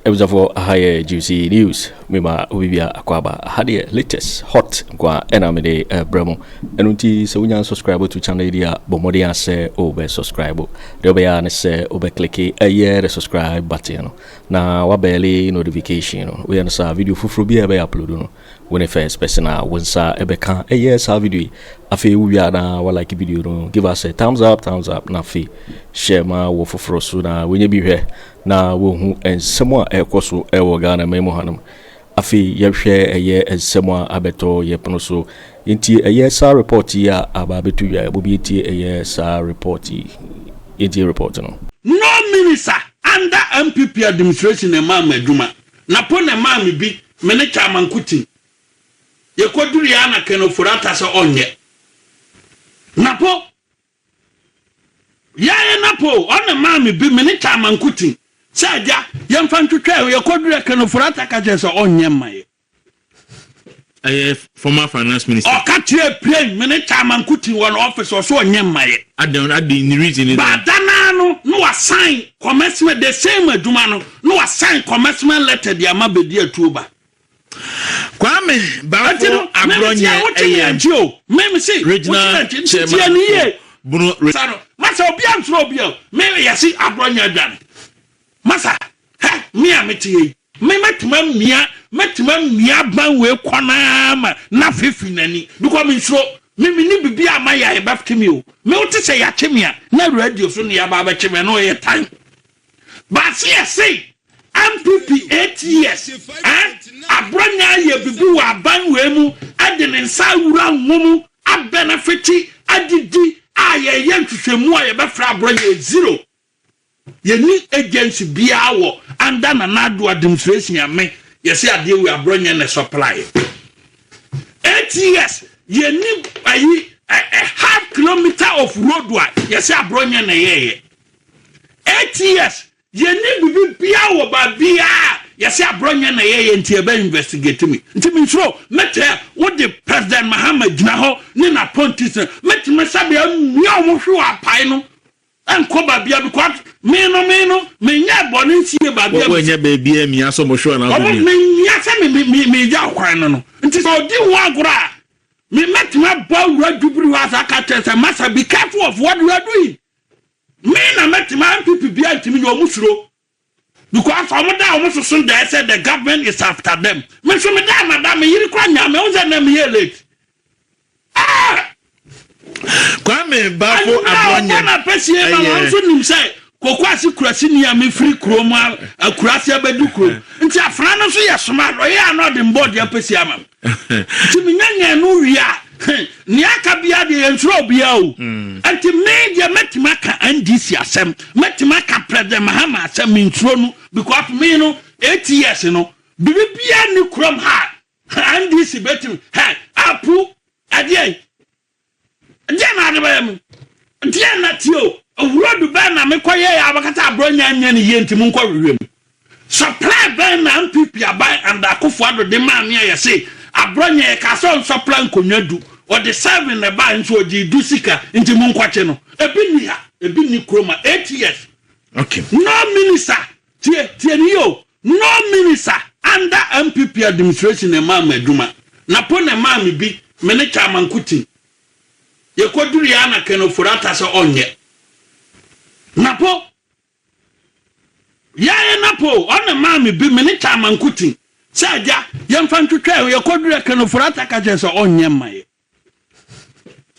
abusuafoɔ aha yɛ juicy news Me ma obibiara akwaaba. Aha deɛ latest hot nkoa ɛna mede ɛbrɛ mo. Ɛno nti sɛ wonya unsubscribe to channel yi deɛ a bɔ mmɔden a sɛ wobɛ subscribe. Deɛ wobɛyɛ a ne sɛ wobɛ click ɛyɛ the subscribe button no na wabɛɛle notification no. Woyɛ no saa a video foforɔ biara ɛbɛyɛ upload no wone first person a wo nsa ɛbɛka ɛyɛ saa video yi. Afei wowie a na wa like video no give us a thumbs up thumbs up na afei share ma wɔ foforɔ so na wɔnyɛ bi hwɛ. na wɔhu nsɛm a ɛrekɔ so wɔ Ghanaman mu hanom. Afei yɛhwɛ ɛyɛ nsɛm a abɛtɔ yɛn pono so. Yɛntie ɛyɛ saa report yi a aba abɛto dwa. Mo bi ntie ɛyɛ saa report yi. Yɛntie report no. No minister under NPP administration na ɛmaa me adwuma, na po na ɛmaa me bi, me ne Kyaama Nkotim. Yɛkɔduruiɛ ara na Ken Ofori-Atta sɛ ɔnyɛ. Na po Yɛe na po ɔne maa me bi me ne Tama nko ti sɛ agya yɛmfa ntwetwɛ ho yɛkɔ duru ɛkɛ no Furata ka kyerɛ sɛ ɔnyɛ mma yɛ. Ɛyɛ former finance minister. Ɔka kyerɛ Pien me ne Tama nko ti wɔ no office ɔso ɔnyɛ mma yɛ. Adan adi ne reason ne dɛn. Ba da naa no na wa sign commencement the same adwuma no na wa sign commencement letter de ama bedi atuo ba Kwame Bafo Aborɔ nyɛ ɛyɛm Regional Chairman for Bono Region. Masa obia nsuro obi o me yɛse aborɔ nyɛ adwane masa hɛ me a mete hɛ yi me mɛtema mmia mɛtema mmia aban wei kɔ naa ma na fefi nani because me nsuro me me ni bibi a ma yɛ yɛbɛfte me o me wote sɛ yɛakye me a na radio so ne yɛaba abɛkye me ɛno yɛ tan Baase yɛ sei npp eight years eh aborɔ nyɛ ayɛ bibi wɔ aban wei mu ɛde ne nsa awura nwo mu abɛnɛfete adidi a yɛyɛ nhwehwɛmu a yɛbɛfrɛ aborɔ nyɛ zero yɛni agency biara wɔ under Nana Addo administration a me yɛsɛ adeɛ wei aborɔ nyɛ ne supply eight years yɛni ayi a half kilometer of road a yɛsɛ aborɔ nyɛ na yɛyɛ ATS, yɛnni biribi biara wɔ baabiara a yɛse aborɔ nyɛ na yɛyɛ nti yɛbɛ investigate me. Nti mensuro, mɛtaa wo de President Mahama gyina hɔ ne n'appointees no, mɛtumi sɛ bea mmea a wɔhwe wɔ apae no nkɔ baabiara because me no me no menyɛɛ bɔne nsie baabiara. Wɔ nyɛ baabiara mmea sɛ wɔhwe wɔ n'aso bi. Wɔn mmea sɛ me me me megya ɔkwan no no. Nti sɛ ɔdi ho agorɔ a, me mɛtumi abɔ awura dwubiri hɔ asa aka kyerɛ sɛ masa be careful of what you are doing. Me na mɛtumi ampipi bia ntumi nyɛ ɔmo suro because ɔmo da ɔmo soso dɛɛ sɛ the government is after them me nso me da ma da me yiri kora nyaa me ɛho sɛ na me yɛ late ah Kwame Bafo Abɔnyɛ na pɛsie ma wɔn nso nim sɛ koko ase kurasi ni a me firi kuro mu akurasi abɛdu kuro nti afra no nso yɛ soma ɔyɛ a na ɔde mbɔ deɛ pɛsie ama me Nti menyanyan no wie a, nea aka biara deɛ yɛnsrɛ obiara o. Mm. Nti me deɛ mɛtumi aka NDC asɛm, mɛtumi aka President Mahama asɛm, mensuro no because me no eight years no biribi biara nni kurom ha NDC bɛtumi hɛ apu ɛdeɛ Ɛdeɛn na ade bɛyɛ me? Deɛn na tie o, awuro du bɛn na mekɔ yɛ yɛ abɛkata aborɔ nya nyɛ ne yie nti mo nkɔ hwehwɛ mu. Sɔpraa bɛn na NPP aban and Akufo Addo de maa me a yɛse aborɔ nyɛ yɛkaa sɛ ɔnsɔpra nkonnwa du, ɔde seven na ɛbaeɛ nso ɔgyee du sika nti mo nkɔkye no. Ebi nni ha, ebi nni kurom ha eight years. Okay. No minister Tie, tie no yie o, no minister under NPP administration na ɛmaa me adwuma, na po na ɛmaa me bi, me ne Chairman Kuttin. Yɛkɔduruiɛ ara na Ken Ofori-Atta sɛ ɔnyɛ. Na po, yɛayɛ no apo o, ɔna ɛmaa me bi, me ne Chairman Kuttin, sɛ agya, yɛmfa ntwitwa ɛ o, yɛkɔduruiɛ Ken Ofori-Atta ka kyerɛɛ sɛ ɔnyɛ mma yɛ.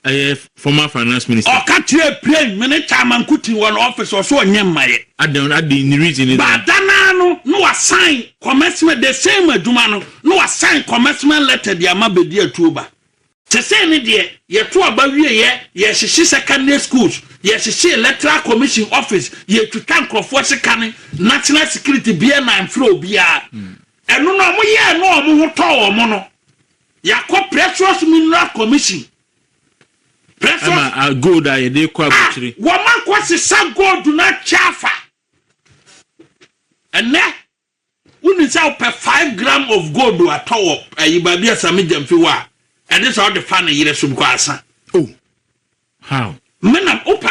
Ɛyɛ former finance minister. Ɔka kyerɛɛ Plain me ne Chairman Nkuti wɔ no office ɔse ɔnyɛ mmayɛ. Adɛn adɛn ne reason ne dɛn? But da no ara no na wasan commencement the same adwuma no na wasan commencement letter de ama Bedi Atuoba. Sesei ne deɛ yɛto aba wieɛ, yɛrehyehye secondary schools, yɛrehyehye electoral commission office, yɛretwitwa nkurɔfoɔ sika ne national security biara na ɛmfrɛ obiara. Ɛno no wɔyɛɛ no a wɔn ho tɔɔ wɔn no. Yɛakɔ Precious Mineral Commission. Precious. Ɛna a gold a yɛde kɔ abotire. A wɔn akɔ sesa gold no akyɛ afa. Ɛnɛ wonni sɛ wopɛ five gram of gold atɔ wɔ ɛyi baabi a Sami Gyamfi wɔ a ɛde sɛ ɔde fa ne yere so bikɔ asa. Oh, how? Menam wopɛ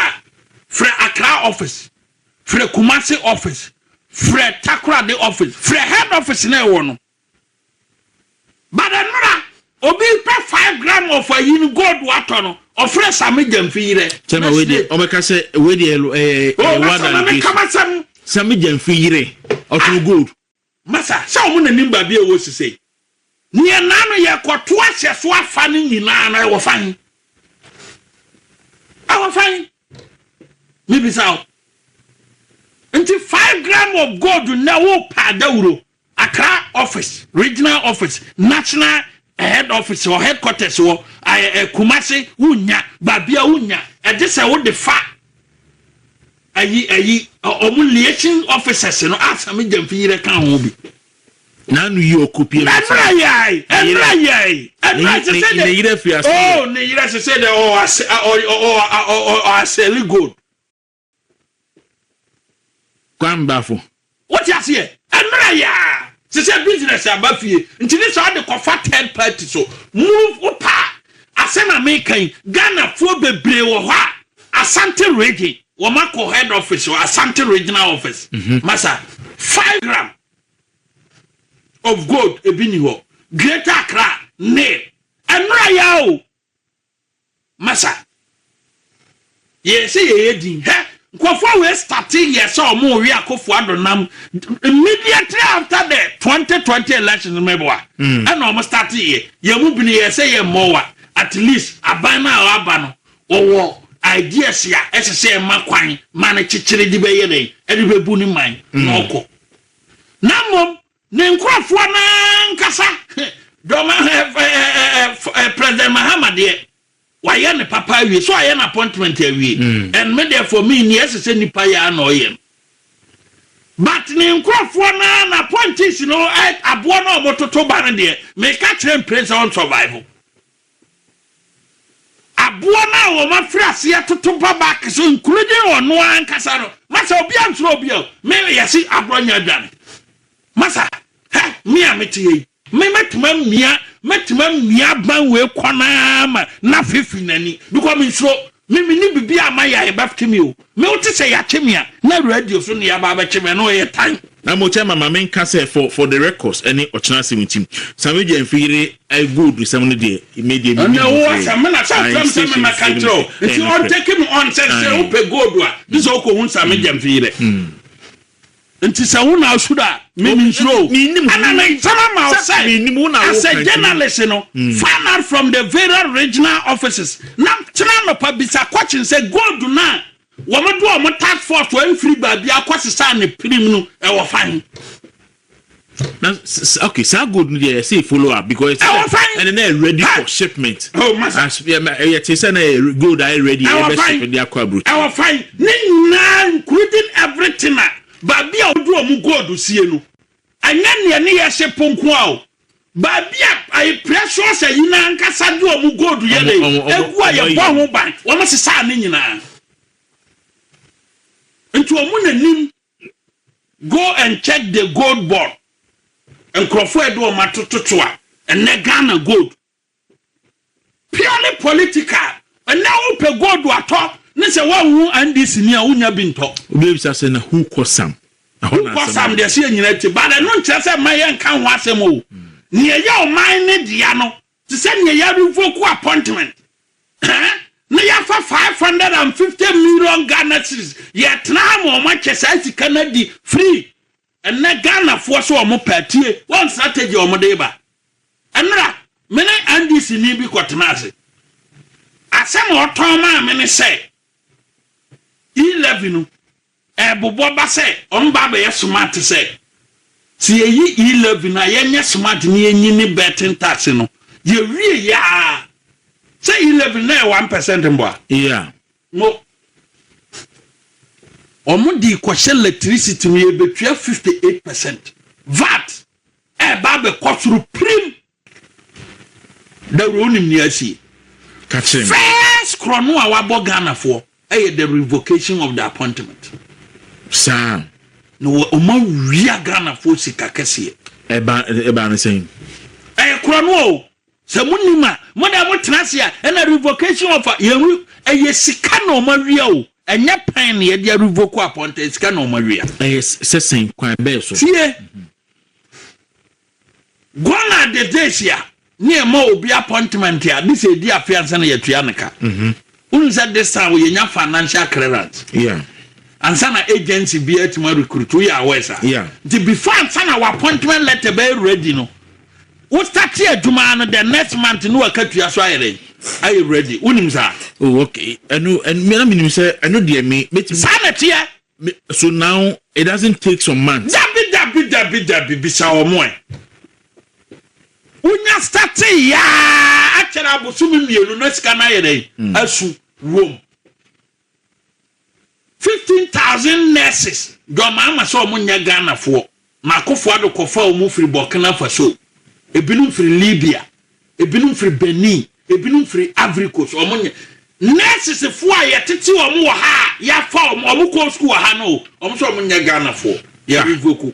frɛ Accra office, frɛ Kumasi office, frɛ Takoradi office, frɛ head office na ɛwɔ no. But ɛnora obi pɛ five gram of ayi no gold watɔ no ɔfrɛ same gyamfi yerɛ. Sɛma wei deɛ ɔbɛka sɛ wei deɛ ɛyɛ eh, eh, eh, oh, wada no bi same gyamfi yerɛ ɔtɔn ah. gold. Masa sɛ ɔmo nanim baabi a ɛwɔ sisei ne yɛ naa no yɛ kɔto ahyɛ so afa no nyinaa no ɛwɔ fan ɛwɔ fan mebisa o nti five gram of gold na wo pa adawuro Accra office, regional office, national head office or headquarters wɔ Kumasi wo nnya, baabia wo nnya, ɛgye sɛ wo de fa ayi ayi ɔmo liaison officers no a Sami Gyamfi yerɛ ka ho bi. N'ano yi ɔko pie ma sɛ. Ɛnra yɛɛi, ɛnra yɛɛi, ɛnra sɛ sɛ dɛ. Ne yerɛ fi ase yɛ. Oh ne yerɛ sɛ sɛ dɛ ɔɔ asɛ ɔɔ ɔɔ ɔɔ ɔɔ asɛli gold. Kwambafo. Wote aseɛ? Ɛmmerɛ yɛ a, te sɛ business aba fie, nti ne saa de kɔfa third party so. Move wo pa a, asɛm a meka yi, Ghanafoɔ bebree wɔ hɔ a, Asante region, wɔn akɔ head office hɔ, Asante regional office, masa, five gram of gold, ebi ni hɔ, Greater Accra, nil. Ɛmmerɛ yɛ a o, Masa yɛyɛ sɛ yɛyɛ din hɛ nkurɔfoɔ wei starte yɛ sɛ ɔmo we akɔfo ado nam immediately after the 2020 elections mɛboa mm. ɛna ɔmo starte yɛ yɛ mu bini yɛ sɛ yɛ mmɔwa at least aban no a ɔaba no ɔwɔ ideas a ɛsɛ sɛ ɛma kwan ma no kyekyere de bɛyɛ dɛn ɛde bɛbu ne man mm. na ɔkɔ na mmom Ne nkorɔfoɔ no ankasa dɔm ahwɛ President Mahama deɛ wayɛ ne papa awie so ayɛ no appointment awie mm. and me deɛ for me ni ɛsɛ sɛ nipa yɛ ana ɔyɛ no but ne nkorɔfoɔ no na appointees no aboɔ no a wɔtoto ba no deɛ meka kyerɛ mpire sɛ ɔn survive Aboa no a wɔafiri aseɛ atoto ba back so including ɔno ara ankasa no, masa obiara nsuro obiara o, me yɛse agorɔ nyɛ adwane, masa hɛ me a mete ha yi me mɛtumi amia mɛtumi amia aban wei kwan ara ma n'afe firi n'ani because mensuro Me me ni bibi a ma ya ye bɛ twe me o me o te sɛ ya twe me a na radio so na ya ba bɛ twe me ɛno ɔyɛ tan. Na mo kyɛ mama me nka sɛ for for the records ɛne ɔkyena asɛm nti samedua mfi yere I gold sɛm no deɛ me deɛ me nim ho hwee I insist in his him sɛ ɛyɛ no korɛ I. Nti sɛ wo na asu da a, me mensuro o. Ɛna ne nsɛm ama ɔsɛ as a journalist no, find out from the various regional offices na kyena anɔpa bisa question sɛ gold no a wɔde wɔn task force ɛmfiri baabiara kɔsesaa ne pirim no ɛwɔ fan? na okay saa gold no deɛ ɛsɛ follow up because ɛsɛ sɛ ɛna na ready for shipment oh, as ɛyɛ te sɛ na yɛ gold ayɛ ready ɛbɛ ship de akɔ aburo. ɛwɔ fan ne nyinaa including everything a baabi a wɔde wɔn gold sie no ɛnyɛ nea ne yɛ ship nko a o baabi a ayi precious ayi na ankasa de wɔn gold yɛ de egu a yɛ bɔ ho ban wɔn sisa ne nyinaa nti wɔn na nim Go and check the gold board nkurɔfoɔ a yɛde wɔn atoto so a ɛnɛ Ghana gold purely political ɛnɛ wopɛ gold atɔ ne sɛ woanhu NDC ni a wonya bi ntɔ. Obi bisa sɛ na who kɔ sam? Ɛhɔ na asɛm sam deɛ sɛ yɛnyina ti but ɛno nkyerɛ sɛ mma yɛnka ho asɛm o nea ɛyɛ ɔman ne dea no Te sɛ nea yɛrevoku appointment na yɛafa five hundred and fifty million Ghana cedis, yɛtena ha ma wɔatwa saa sika no adi firi ɛnnɛ Ghanafoɔ sɛ wɔn pɛ a. Tie wɔn strategy a wɔde reba. Ɛnnora, me ne NDCni bi kɔtenaa ase. Asɛm a ɔtɔn maa me ne sɛ, E-levy no, Ɛbobɔ ba sɛ ɔno ba abɛyɛ smart te sɛ sɛ yɛyi E-Levy a yɛnyɛ smart na yɛnyi ne betting tax no yɛwie yɛ a sɛ E-Levy na yɛ one percent mpo a. Yeah. Mo ɔmo de kɔhyɛ electricity mu yɛbɛtua fifty eight percent vat ɛɛba abɛkɔ soro pirim. Dawuro wonim nea asi? Ka kyerɛ me. First korɔno a wabɔ Ghanafoɔ ɛyɛ the revocation of the appointment. Saa. Na wɔn awia Ghanafoɔ sika kɛseɛ. Ɛba ɛba ne sɛn? Ɛyɛ korɔno o. Sɛ mo nim a mo na mo tena ase a ɛna revocation of yɛn re ɛyɛ sika na wɔn awia o. Ɛnyɛ pɛn na yɛde revoke appointment sika na wɔn awia. Ɛyɛ sɛ sɛn kwan bɛɛ so? Tie. Guan a Detesia ne ɛma obi appointment a this edi afe ansa na yɛtua ne ka. Wonim sɛ this time yɛnya financial clearance. Yeah. Ansa na agency bi atuma recruit wo yɛ aware sa. Yeah. Nti before ansa na wa appointment letter bɛyɛ ready no wo start adwuma no the next month no waka tua so ayɛ dɛn ayɛ ready wonim sa. Oh okay. Ɛno ɛno mena menim sɛ ɛno deɛ me. Saa na ɛteɛ. So now it doesn't take some months. Dabi dabi dabi dabi bisa wɔn ɛ. Wonya starte yaa akyɛrɛ abosome mmienu na sika no ayɛ dɛ asu wom. Fifteen thousand nurses dɔmaama sɛ wɔn nyɛ Ghanafoɔ. Na Akufo-Addo kɔfaa wɔn firii Burkina Faso, ebinom firii Libya, ebinom firii Benin, ebinom firii Ivory Coast. Wɔn nyɛ. Nursesefoɔ a yɛtete wɔn wɔ ha a yɛafa wɔn, wɔn kɔɔ sukuu wɔ ha no, wɔn nso wɔn nyɛ Ghanafoɔ. Yɛ revoke wɔn.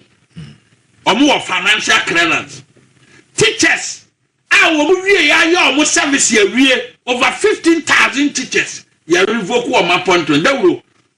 Wɔn wɔ financial clearance. Teachers a wɔn wieɛ ayɛ wɔn service awie, over fifteen thousand teachers, yɛ revoke wɔn appointment. Dawuro,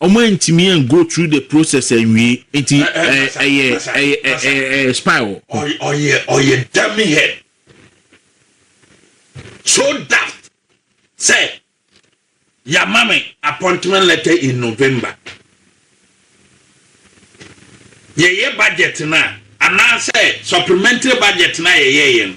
Ɔmo antumi an go through the process anwie nti ɛyɛ expire wɔ hɔ. Ɔyɛ ɔyɛ dummy head so daft sɛ yama me appointment letter in November yɛyɛ budget no a anaasɛ supplementary budget no a yɛyɛɛyɛ no.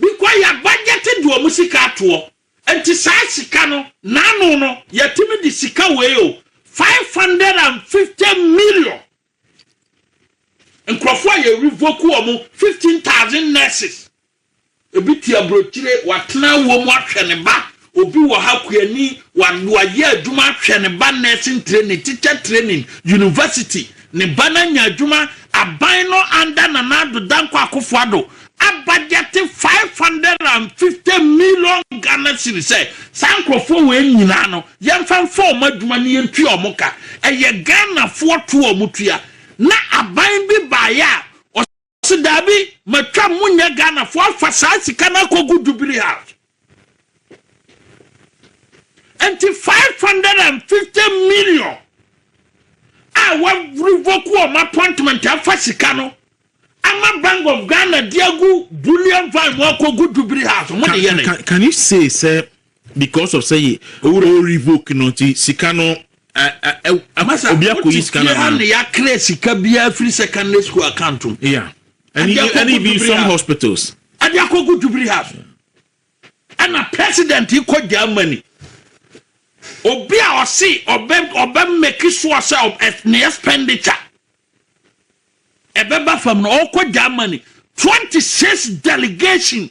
Bikwa yɛ bajɛte de wɔn sika atoɔ nti saa sika no n'ano no yɛtumi de sika wei o five hundred and fifty million nkorɔfoɔ a yɛ revoke wɔn fifteen thousand nurses ebi te abrokyire watena awuo mu ahwɛ ne ba Obi wɔ ha kuani wa wayɛ adwuma hwɛ ne ba nursing training teacher training university ne ba no anya adwuma aban no under Nana Addo Dankwa Akufo Addo abajɛte five hundred and fifty million Ghana cedi sɛ saa nkorɔfoɔ wei nyinaa no yɛmfa mfa wɔn adwuma ne yɛntua wɔn ka ɛyɛ Ghanafoɔ toɔ a wɔtua na aban bi baeɛ a Ɔse daabi matwam mo nyɛ Ghana foɔ afa saa sika no akɔgu Jubilee house nti 550 million a wa revoke wɔn appointment afa sika no ama Bank of Ghana de agu bullion van mu akɔgu Jubilee house mo de yɛ ne. Can you say sɛ Because of sɛ yɛ owura o revoke no nti sika no Masa obi akɔ yi sika no anaa. Masa wote fie ha na yakra sika biara firi secondary school account mu. Yeah. Ɛne ɛne bi some hospitals. Ɛde akɔgu Jubilee House. Ɛna president kɔ Germany. Obi a ɔse ɔbɛ ɔbɛ make sure sɛ ne expenditure ɛbɛba fam no ɔkɔ Germany. 26 delegation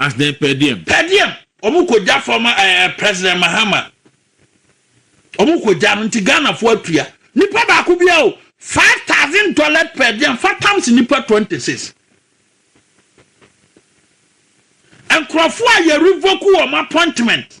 As the per diem. Per diem. Wɔn kɔ gya fam ɛɛ eh, eh, President Mahama. Wɔn kɔ gya no nti Ghana fo atua. Nipa baako bi a o five thousand dollars per diem fa tams nipa twenty six. Nkurɔfo a yɛ revoke wɔn appointment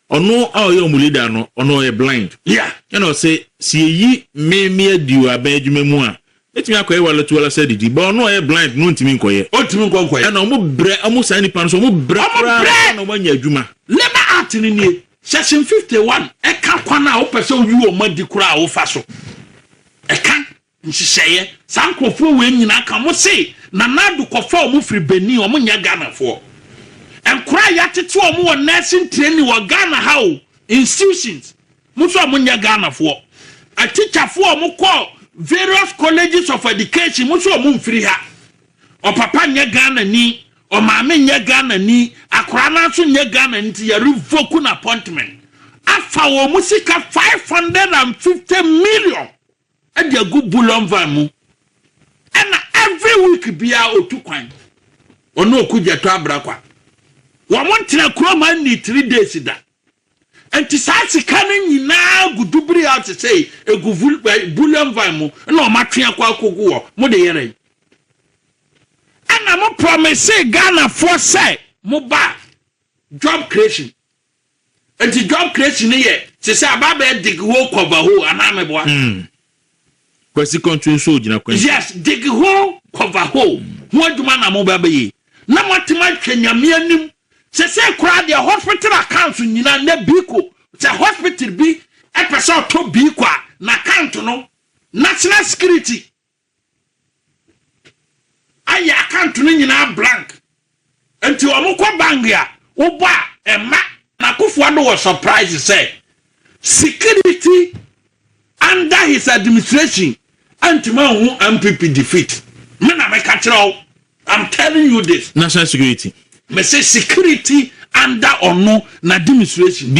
Ɔno a ɔyɛ ɔmo leader no ɔno ɔyɛ blind yeah ɛna ɔse se yɛyi me me adi wɔ aban adwuma mu a mɛtumi akɔyɛ wallet wallet sɛ adidi but ɔno a ɔyɛ blind no ɔntumi nkɔyɛ. Ɔntumi nkɔ nkɔyɛ. Ɛna ɔmo brɛ ɔmo saa nipa no so ɔmo brɛ Ɔmo koraa brɛ! ansa na ɔmo anya adwuma. Labour Act no nie, Section fifty one ɛka kwan a wopɛ sɛ woyi wɔn adi koraa a wofa so. Ɛka. Nhyehyɛeɛ, saa nkorɔfoɔ wei nyinaa ka wɔn se Nana Addo kɔfa wɔn firi Benin, wɔn nyɛ Ghanafoɔ. Nkora a yɛatete wɔn wɔ nursing training wɔ Ghana ha o, institutions, wɔn nso wɔn nyɛ Ghanafoɔ. Atikyafoɔ a wɔn kɔ various colleges of education, wɔn nso wɔn mfiri ha. Ɔpapa nyɛ Ghanani, ɔmaame nyɛ Ghanani, akora no ara nso nyɛ Ghanani nti yɛ revoke no appointment. Afa wɔn sika five hundred and fifty million. de agu bullion van mu ɛna every week biara otu kwan ɔne okugyato abrakwa wɔn ntena kurom anni three days da nti saa sika no nyinaa gu dubiri a te sɛ egu vul- eh, bullion van mu na wɔn atwe akɔ akogu hɔ mo de yɛrɛ yi ɛna mo promise ghanafoɔ sɛ mo ba job creation Enti Job creation no yɛ te sɛ ababaa dig hole cover hole anaa meboa. Mm. Kwasi Kɔnto nso ogyina kwan Yes, dig hole cover hole ho adwuma na moba bɛyɛ na moatem ahwɛ Nyame anim. Sesei koraa deɛ hospital accounts nyina nɛ biiko sɛ hospital bi ɛpɛ sɛ ɔtɔ biiko a n'account no National Security Ayɛ account no nyinaa blank nti ɔmo kɔ bank a wobɔ a ɛmma. Na Akuffo Addo wɔ surprise sɛ security under his administration antumi anhu NPP defeat. Me na meka kyerɛ wo, I'm telling you this. National security. Mese security under ɔno n'administration.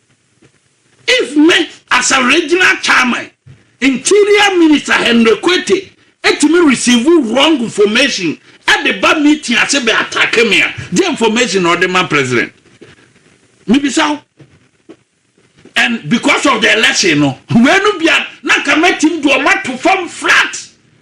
If me as a regional chairman, interior minister Henry Kwete tumi receive wrong information de ba meeting ase bɛ attack me a, deɛ information na ɔde ma president? Mebisa wo. And because of the election no, wei no bia na nka mɛtim de ɔma to fam flat.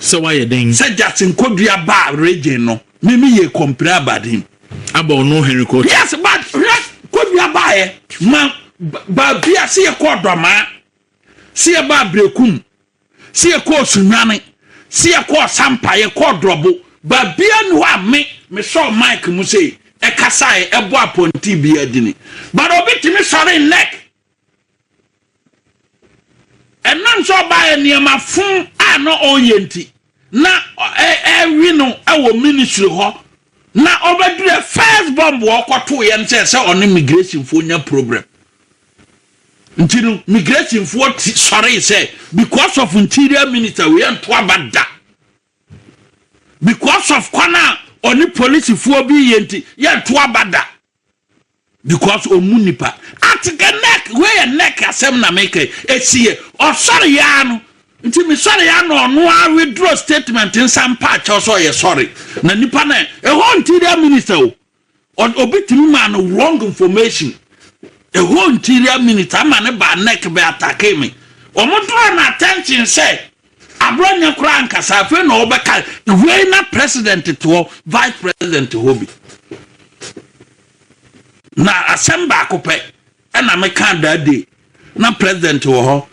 sɛ wayɛ dɛn? Sɛ Jackson kɔdua baa Regin no, me me yɛ kɔmpire about him. Aba ɔno Henry Kɔɔto. Yes but hwɛ kɔdua baeɛ ma baabi a sɛ yɛ kɔɔ Dɔmaa, sɛ yɛ baa Brekum, sɛ yɛ kɔɔ Sunwane, sɛ yɛ kɔɔ Sampa, yɛ kɔɔ Drɔbo, baabi a ni hɔ a me me sɔɔ Mike mu sei, ɛkasaeɛ, ɛbɔ apɔnti bi adini. But obi tumi sɔre nnɛk ɛnam sɛ ɔbaeɛ nneɛma fo a na ɔreyɛ nti na ɛwi no wɔ ministry hɔ na ɔbɛdurɛ first bomb ɔkɔto yɛn sɛ sɛ ɔne migration fo nya problem nti no migration fo sɔre sɛ because of interior minister wei ɛnto aba da because of kwan a ɔne polisifoɔ bi yɛ nti yɛnto aba da because ɔmu nipa ate dɛ neck wei yɛ neck asɛm na meka ɛsi yɛ ɔsɔre yaa no nti mesɔre ya na ɔno a withdraw statement nsa mpa akyɛw sɛ ɔyɛ sɔre na nipa na ɛhɔ nti dɛ minister o obi tumi maa no wrong information ɛhɔ nti dɛ minister ama ne ba neck bɛ atake me wɔn draw no attention sɛ Agorɔ nyɛ koraa ankasa afei na ɔbɛka wei na president te hɔ vice president hɔ bi na asɛm baako pɛ ɛna meka that day na president wɔ hɔ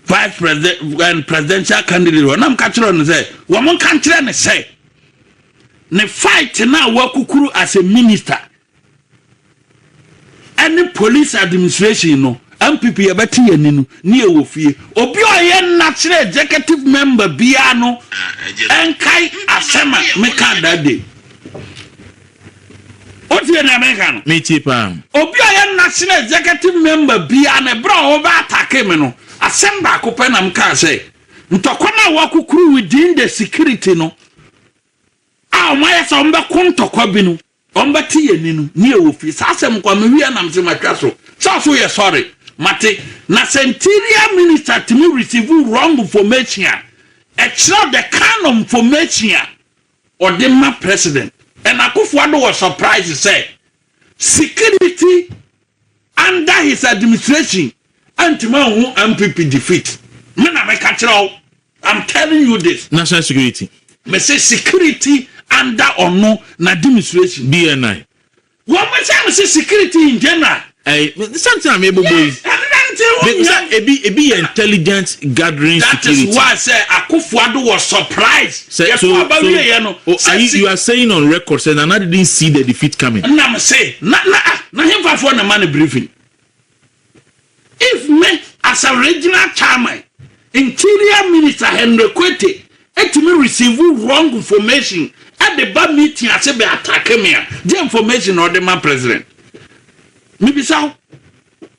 vice president and presidential candidate wɔ nam ka kyerɛ no sɛ wɔn nka nkyerɛ ne sɛ ne fight na wakukuru as a minister ɛne police administration no npp yɛbɛte yɛn ani no ne ɛwɔ fie obi a ɔyɛ national executive member biara no ɛnkae asɛm a meka that day wotie nea meka no metie paa obi a ɔyɛ national executive member biara no ɛberɛ a wɔbɛ atake me no asɛm baako pɛ na meka sɛ ntɔkwa no a wɔakokuru within the security no a wɔayɛ sɛ wɔbɛko ntɔkwa bi no Wɔbɛte yɛn nne no, ne yɛwɔ fie. Saa asɛm nko ara, mehui a na mese matwa so. Saa so yɛ sɔre? Mate. Na sɛ interior minister tumi receive wrong information a, ɛkyerɛ the kind of information a ɔde ma president. And Akufo-Addo was surprised sɛ security Under his administration antumi anhu NPP defeat me na meka kyerɛ wo I'm telling you this. National security. Me se security under ɔno na administration. DNI. Wɔn mo sɛ me se security in general. Ɛɛ me santi na me bobo yi. Yes ɛne na ne ti wɔn nyɛ. Ebi ebi yɛ intelligence gathering security. That is why sɛ Akufo-Addo was surprised. Sɛ yɛ to aba wie yɛ no, sɛ si. You are saying on record sɛ Nana didn't see the defeat coming. Ɛna me se, na na ah, na henfa foɔ na ma no briefing? If me as a regional chairman, interior minister Henry Kwete ɛtumi receive wrong information ɛde ba meeting ase bɛ attack me a, deɛ information na ɔde ma president? Mebisa wo.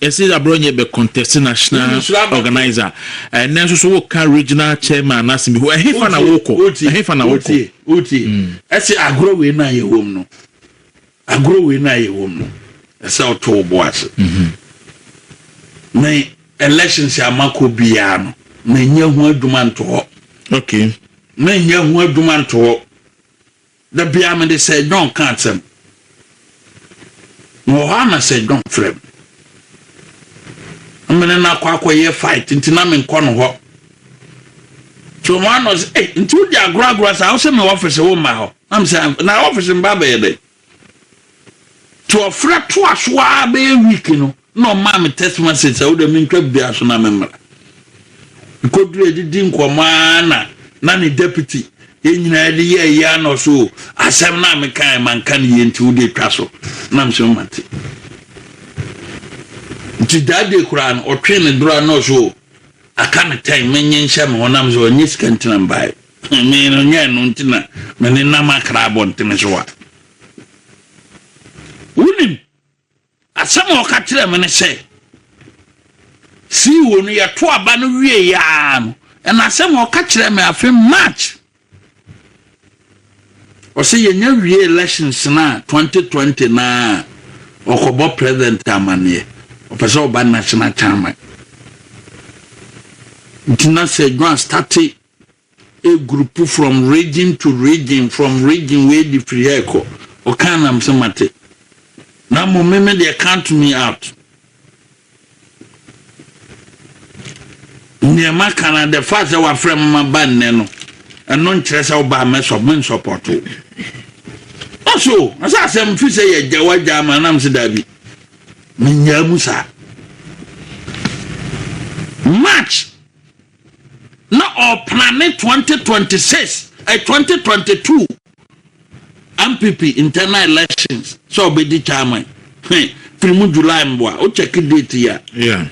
Ɛse Abrɔnyɛ bɛ contest national organiser ɛnɛ nso so wo ka regional chairman no asem bi ho ɛhefa na wo kɔ ɛhefa na wo kɔ. Wotie ɛse agorɔ wei no a yɛ wɔ mu no agorɔ wei no a yɛ wɔ mu no ɛsɛ ɔto wo bo ase me elections a makɔ biara no menyɛ ho adwuma nto hɔ okay menyɛ ho adwuma nto hɔ Da biara mede Sir John ka asɛm. Mewɔ hɔ a na Sir John frɛ me. Na me ne no akɔ akɔyɛ fight nti na menkɔ no hɔ. Nti ɔma na ɔsɛ, ei, nti wodi agorɔ agorɔ saa, wosɛ me ɔfese womma hɔ. Na me sɛ, na ɔfese meba abɛyɛ dɛn? Nti ɔfrɛ toa so ara bɛyɛ week no, Nna ɔmaa me text message sɛ wodɛ mentwa biribiara so na memmra. Mekodurii adidi nkɔmmɔ ara na na ne deputy, yɛn nyinaa de yɛ ayi ara na ɔse o, asɛm no a mekaeɛ manka no yie nti wode twa so. Na mese mate. Nti that day koraa no ɔtwee ne dora na ɔse o, aka no tɛn mennye nhyɛ me ho na mese ɔnyɛ sika nti na mbaeɛ. Me no nyɛ ɛno nti na me ne nam akra abɔntene so a. Wonim. Asɛm a ɔka kyerɛɛ me ne sɛ, CEO no, yɛto aba no wieeɛ ara no, ɛna asɛm a ɔka kyerɛɛ me afe March, ɔsɛ yɛnya wie elections no a 2020 no a, ɔkɔbɔ president amanneɛ, ɔpɛ sɛ ɔba national chairman. Nti na Sir John astate A group from region to region from region wei de firi ha rekɔ. Ɔkaa na mesɛ mate. Na mmom me me deɛ count me out. Nea maka no the fact sɛ wafrɛ me maba nnɛ no ɛno nkyerɛ sɛ wobaa mɛsɔ mensɔpɔto. Ɔso ɔsɛ asɛm fi sɛ yɛgya wagya ama nam sɛ daabi. Menyaa mu saa. March na ɔreplane twenty twenty six ɛ twenty twenty two npp internal elections sɛ ɔbɛdi chairman hwɛ firi mu july mboa o check date yi a Yeah.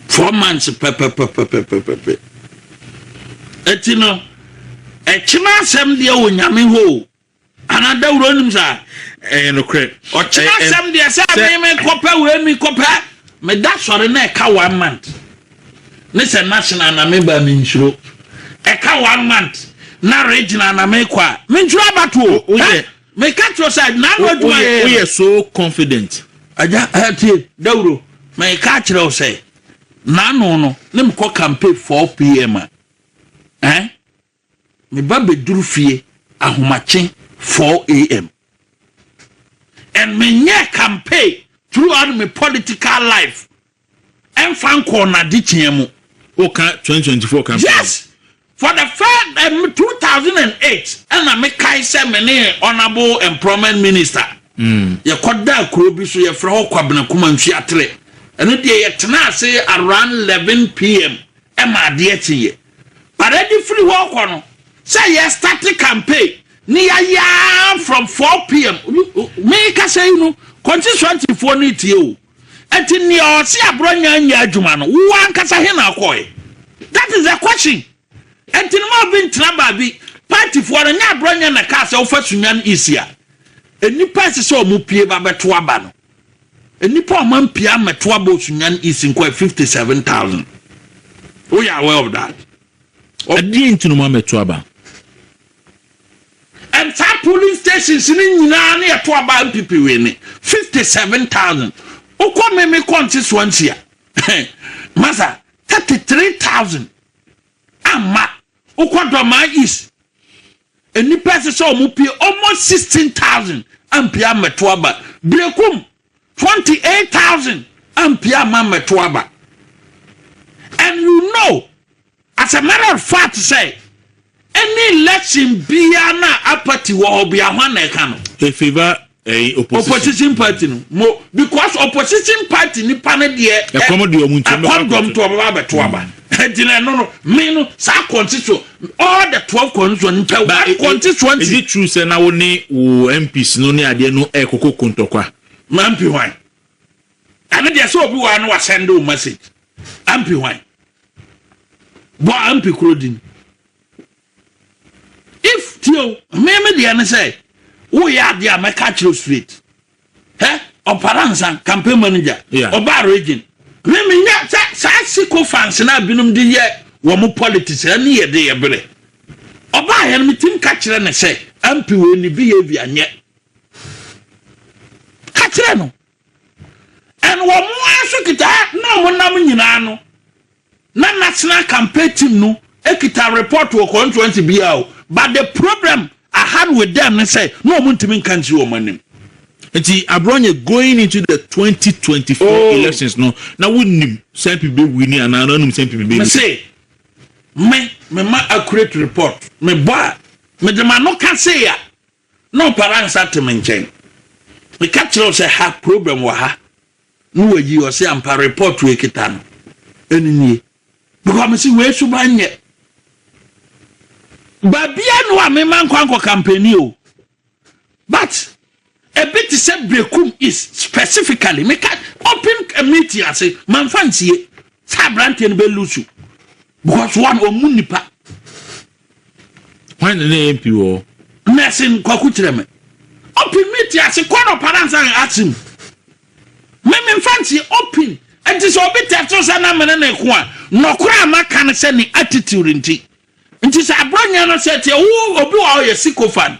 four months pɛpɛpɛpɛpɛpɛpɛ ɛti no ɛkyena asɛm deɛ wɔ nyame hɔ o Ana dawuro nim saa? Ɛyɛ nokorɛ. Ɔkyena eh, eh, asɛm deɛ sɛ me me kɔpɛ wei me kɔpɛ me da sɔre na ɛka one month ne sɛ national na me ba me nsuro ɛka one month na regional na me kɔ a me nsuro abatoɔ. Woyɛ eh, me ka kyerɛ sɛ n'ano adwuma yɛ. Woyɛ so confident. Agya ɛtie dawuro me ka kyerɛ sɛ n'ano no ne me kɔ campaign 4 pm a. Eh? Me ba bɛduru fie ahomakye four am and menyɛɛ campaign throughout me political life ɛmfa nkɔɔ n'adekyea mu. Woka twenty twenty four campaign? Yes! For the first um, eh, two thousand and eight ɛna mekae sɛ me ne honourable employment minister mm. yɛkɔdaa kuro bi so yɛfrɛ hɔ Kwabena Kumanfi Atere ɛno deɛ yɛtenaa ase around eleven pm ɛma adeɛ kyeeɛ But ɛde firi hɔ rekɔ no sɛ yɛ start campaign ne yɛayɛ ara from 4pm mekasa yi no constituencyfoɔ no retie o ɛnti nea ɔse aborɔnya nyɛ adwuma no wo ankasa he na ɔkɔe that is the question ɛnti no ma obi ntena baabi partyfoɔ no nyɛ aborɔnya na kaa sɛ wofa sunyan isi a nnipa ɛsɛ sɛ ɔmo pie ba bɛto aba no Nnipa a wɔampia mmɛto aba Osunyan East nko yɛ 57,000. Woyɛ aware of that? Ɛdeɛn nti na wɔammɛto aba? And saa polling stations no nyinaa ne yɛto aba NPP wine 57,000. Wokɔ Meme Kɔnse Swansea masa 33,000 amma. Wokɔ Dɔmaa East Nnipa a ɛsɛ sɛ wɔpue almost sixteen thousand ampue ammɛto aba. Berekum twenty eight thousand ampue amma ammɛto aba. And you know as a matter of fact sɛ any election biara no a apathy wɔ hɔ bia hwan na ɛka no? Efiva ɛyi opposition opposition party no mo because opposition party nipa ne deɛ ɛkɔm deɛ ɔmo nti ɛkɔm dɔm to ɔmo ba bɛto aba ɛdi na ɛno no me no saa kɔnti so all the twelve kɔnti so nkyɛn one kɔnti so nti. is it true sɛ na wo ne wo mps no ne adeɛ no ɛkoko kontɔkwa. ma mpi hwan ɛne deɛ sɛ obi wɔ ano wa send o message ampi hwan bɔ ampi kuro din. If tie o me me deɛ ne sɛ woyɛ adeɛ a mɛka kyerɛ o straight hɛ ɔpara nsa campaign manager yeah. ɔbaa region me menyɛ sɛ saa siko fans no a binom de yɛ wɔ mo politics ɛne yɛ de yɛ berɛ ɔbaa yɛ no metim ka kyerɛ ne sɛ ampi wei ne behavior nyɛ ka kyerɛ no And wɔn ara nso kita na wɔn nam nyinaa no na national campaign team no kita report wɔ constituency biara o but the problem I had with them ne sɛ na wɔn ntumi nka nkyiri wɔn anim. Nti Abrɔnyɛ going into the 2024 oh. elections no na wonim sɛ mpi bɛ wini anaa na wonim sɛ mpi bɛ wini. Mese me me ma accurate report me bɔ a me de ma no ka se a Na ɔpara nsa te me nkyɛn. Meka kyerɛ wo sɛ ha problem wɔ ha na wayi ɔse ampa report wei kita no ɛno nie because mese wei suban nyɛ baabia no a mema nkɔ ankɔ kampani o but ebi te sɛ brekum is specifically meka open a meeting ase manfa nsie sɛ aberanteɛ no bɛlusu because one ɔmu nipa Hwan na na MP wɔ hɔ? Mersin Kwaku kyerɛ me. Opin me te ase kɔ no para nsa yɛ ase mu. Me me mfa nsie Opin nti sɛ obi tɛfto sɛ na me ne ne ko a, nɔkora a maka ne sɛ ne attitude nti. Nti sɛ abrɔnyɛ no sɛ teɛ wo obi wɔ hɔ yɛ sycophant.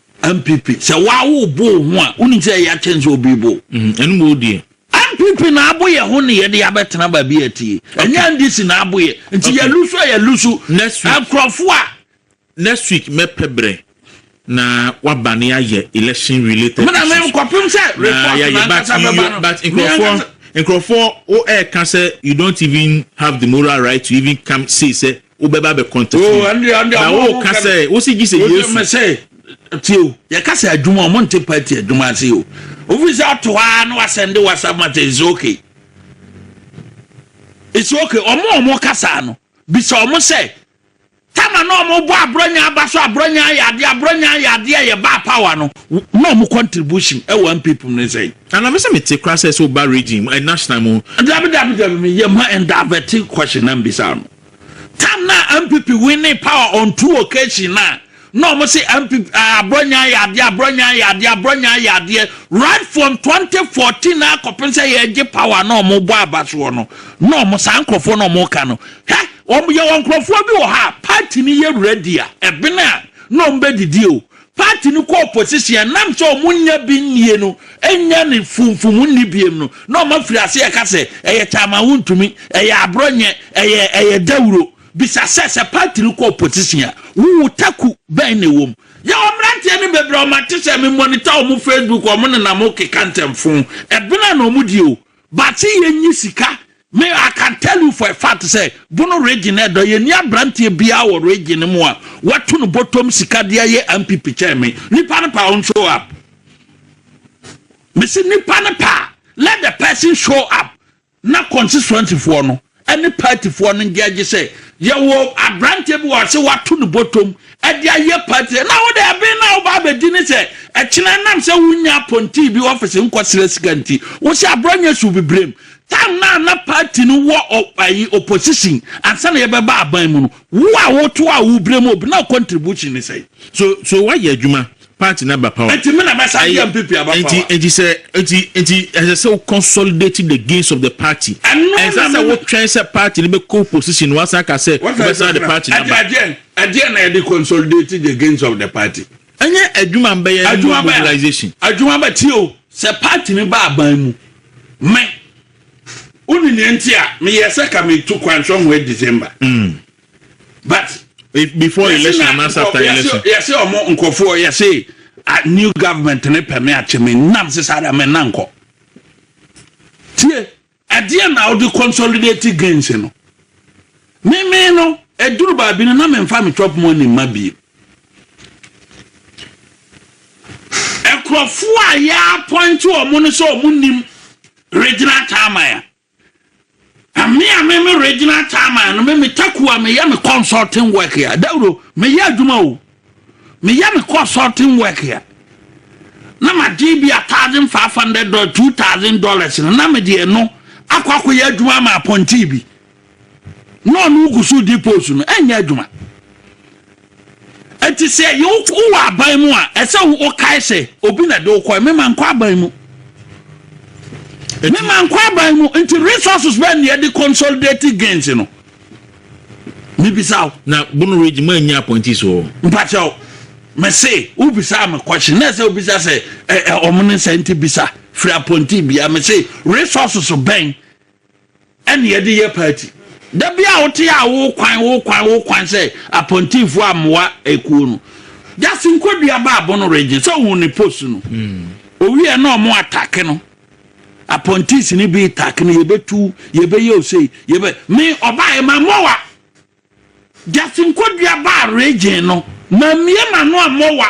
Npp sɛ waa wo bo wo ho a wonim sɛ ɛya kyɛn sɛ obi bo. Ɛno mu odie. Npp na abo yɛ ho ne yɛde abɛtena baabi a ɛteɛ. Ɛnyɛ NDC na abo yɛ. Nti yɛ lusu a yɛ lusu. Next week. Nkurɔfo a. Next week mɛpɛ brɛ na waba ne yɛayɛ election related issues. Mena me kɔpem sɛ report na ankasa bɛba no. But nkurɔfoɔ nkurɔfoɔ wo ɛɛka sɛ you don't even have the moral right to even come say sɛ wobɛba bɛ contact oh, me na woka sɛ wosi gye sɛ yesu mɛ sɛ tie o yɛka sɛ adwuma ɔmo nte party adwuma ase o ofi sɛ ato hɔ na wasɛnde whatsapp mate it's okay it's okay ɔmo ɔmo kasa no bisa ɔmo sɛ tama na ɔmo bɔ aborɔnya aba so aborɔnya ayɛ adeɛ aborɔnya ayɛ adeɛ a yɛbaa power no na ɔmo contribution ɛwɔ npp mu ne sɛ. anamɛ sɛ mete kora sɛ sɛ woba region mu eh, national mu. dabidabidabi mi yɛ ma ɛndavɛte question na mbisa no. Time no a NPP winning power on two occasion no a, na wɔn se NPP ah, Aborɔnyaa yɛ adeɛ, Aborɔnyaa yɛ adeɛ, Aborɔnyaa yɛ adeɛ. Right from 2014 na akɔpem sɛ yɛregye power na wɔn bɔ aba soɔ no, na wɔn saa nkurɔfoɔ na wɔn ka no. Hwɛ, wɔn yɛwɔ nkurɔfoɔ bi wɔ hɔ a, party no yɛ ready a, ɛbene a, na wɔn bɛdidi o. party no kɔ opposition ɛnam sɛ ɔmo nnya bi nnie no nnya ne funfum nni biem no na ɔmo afiri ase ɛka sɛ ɛyɛ kyaama wontumi ɛyɛ aborɔ nyɛ ɛyɛ ɛyɛ dawuro bisa sɛ sɛ party no kɔ opposition a wo wo taku bɛn na ɛwɔ mu yɛwɔ mmeranteɛ no bebree ɔmo ate sɛ me monitor ɔmo facebook ɔmo nenam keka ntɛmfoo ɛbena na ɔmo die o Baakye yɛ nyi sika me I can tell you for a fact sɛ bono region na ɛdɔ yɛ ni abranteɛ biara wɔ region no mu a watu no bɔtɔm sika de ayɛ MPP kyɛn me nipa no pa on show up mesi nipa no pa let the person show up na constituency foɔ no ne paatifoɔ no gye agye sɛ yɛwɔ aberanteɛ bi wɔ ha sɛ wato ne bɔtɔm de ayɛ paati sɛ na wode ɛben no a wobaa bɛdi ne sɛ ɛkyena nam sɛ wonya apɔntii bi ɔfese nkɔsrɛ sika nti wo sɛ aborɔ nyɛ so bibrem tam na na paati no wɔ ayi opposition ansa na yɛbɛba aban mu no wo a woto a wobrɛ mu obi na contribution ne sɛ so so woayɛ adwuma part na ba power. Nti me na mɛsan de NPP aba power. Nti nti sɛ nti nti ɛsɛ sɛ wo consolidate the gains of the party. Ɛnsɛ sɛ wo twɛn sɛ party no bɛ kɔ position na wasan aka sɛ wo bɛsan de party no aba. Ɛdeɛ ɛdeɛ na yɛde consolidate the gains of the party. Ɛnyɛ adwuma mbɛyɛ ne mobilization. Adwuma bɛ tie o sɛ party no ba aban mu me wo ne nea nti a me yɛ sɛ ka me tu kwan sɔhwɛ December. but before election anaasɛ after election. yɛse ɔmo nkurɔfoɔ yɛse ah, new government ne pɛ me akye me nam se saa da me na nkɔ tie ɛdeɛ na wode consolidate gains no meme no ɛduru baabi no na memfa me chop mu ani mma bie nkurɔfoɔ a yɛapɔinte ɔmo no sɛ ɔmo nim regional chairman a Na me a me me regional chairman no me me taku a meyɛ me consulting work a dawuro meyɛ adwuma o meyɛ me consulting work a na magye bi a thousand five hundred dollars two thousand dollars no na mede ɛno akɔ akɔyɛ adwuma ma apɔnti bi na ɔno gu so di post no ɛnyɛ adwuma Enti sɛ yɛ wowɔ aban mu a, ɛsɛ wokae sɛ obi na ɛde wokɔe. Me mankɔ aban mu. Me mankɔ aban mu. Nti resources bɛn na yɛde consolidate gains no? Mebisa wo. Na Bono Ridge mu annya appointees wɔ hɔ? Mpakyɛw, mese wobisaa me question na ɛsɛ wobisa sɛ ɛ ɛ wɔn ne sɛ nti bisa firi appointee biara. Mese resources bɛn ɛne yɛde yɛ party da bi a wote a wo kwan wo kwan wo kwan sɛ apɔntinfo amoa ekuo no jase nkwadua baabo no regye sɛ ohun ne post no hmm. owie na ɔmo atake no apɔntins ne bi take no yɛbɛtu yɛbɛyɛ osei yɛbɛ me ɔbaa ɛma mmoa Justin Kodua baa Reggae no, mammue m'ano ammɔ wa,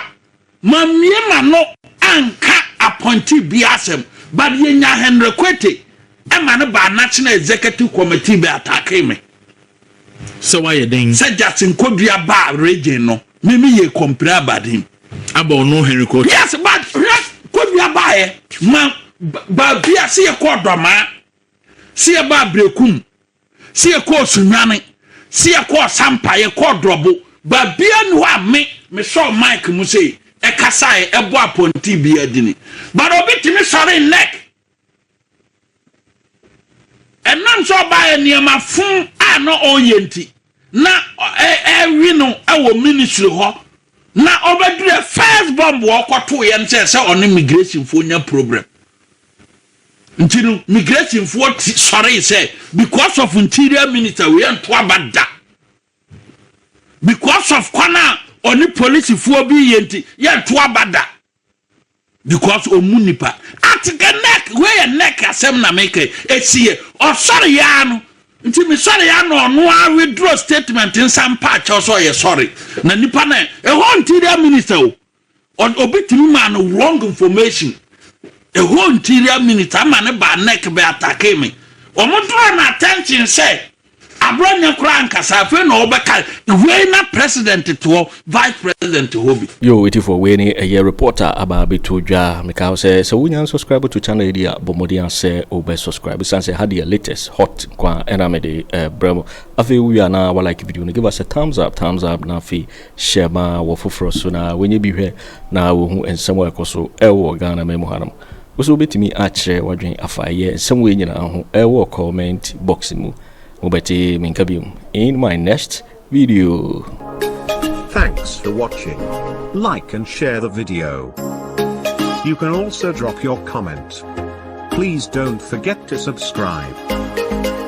mammue m'ano anka appointee biara asɛm, but yɛnyaa Henry Kwete ma no baa National Executive Committee bɛ attackee me. Sɛ wayɛ dɛn? Sɛ Justin Kodua baa Reggae no, me me yɛɛ complain about him. Aba ɔno Henry Kwete? Yes, but hwɛ, Kodua baeɛ ma, baabi a, sɛ yɛkɔɔ Dɔmaa, sɛ yɛbaa Berekum, sɛ yɛkɔ ɔsonwane, sɛ yɛkɔ ɔsampa, yɛkɔ ɔdrɔbo, baabia ni hɔ a me mesɔɔ mic mu sei, ɛkasaɛ, ɛbɔ apɔnten bia dini. But obi tumi sɔre nnɛk. Ɛnam sɛ ɔbaɛ nneɛma fon a na ɔyɛ nti. na ɛrewe no wɔ ministry hɔ na ɔbɛdurɛ first bomb wɔ ɔkɔto yɛn sɛ sɛ ɔne migrationfoɔ nya problem nti no migrationfoɔ sɔree sɛ because of interior minister wei ɛnto aba da because of kwan a ɔne polisifoɔ bi yɛ nti yɛnto aba da because ɔmu nipa at the neck wei yɛ neck asɛm na meka ɛsi yɛ ɔsɔre yaa no nti mesɔre ya na ɔno a withdraw statement nsa mpa akyɛw sɛ ɔyɛ sɔre na nipa na ɛhɔ interior minister o obi tumi maa no wrong information ɛhɔ interior minister ama ne baa neck bɛ atake me wɔn draw no attention sɛ Aberɛ nyɛ koraa ankasa afei na ɔbɛka wei na president te hɔ vice president te hɔ bi. Yoo etifoɔ wei ne ɛyɛ report a aba abɛto dwa mekaa wo sɛ sɛ wonya nsubscribe to channel yi deɛ a bɔ mmɔden a sɛ wobɛ subscribe ɛsiane sɛ ha deɛ latest hot nko ara na mede brɛ mo afei wowie a na wa like video no give us a thumbs up thumbs up na afei share ma wɔ foforɔ so na wɔnyɛ bi hwɛ na wɔhu nsɛm a ɛkɔ so ɛwɔ Ghana man mu hanom Wo nso wobɛtumi akyerɛ w'adwene afa ɛyɛ nsɛm wei nyinaa ho wɔ comment box mu. Mobɛte me nka biom in my next video. Thanks for watching. Like and share the video. You can also drop your comment. Please don't forget to subscribe.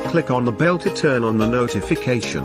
Click on the bell to turn on the notification.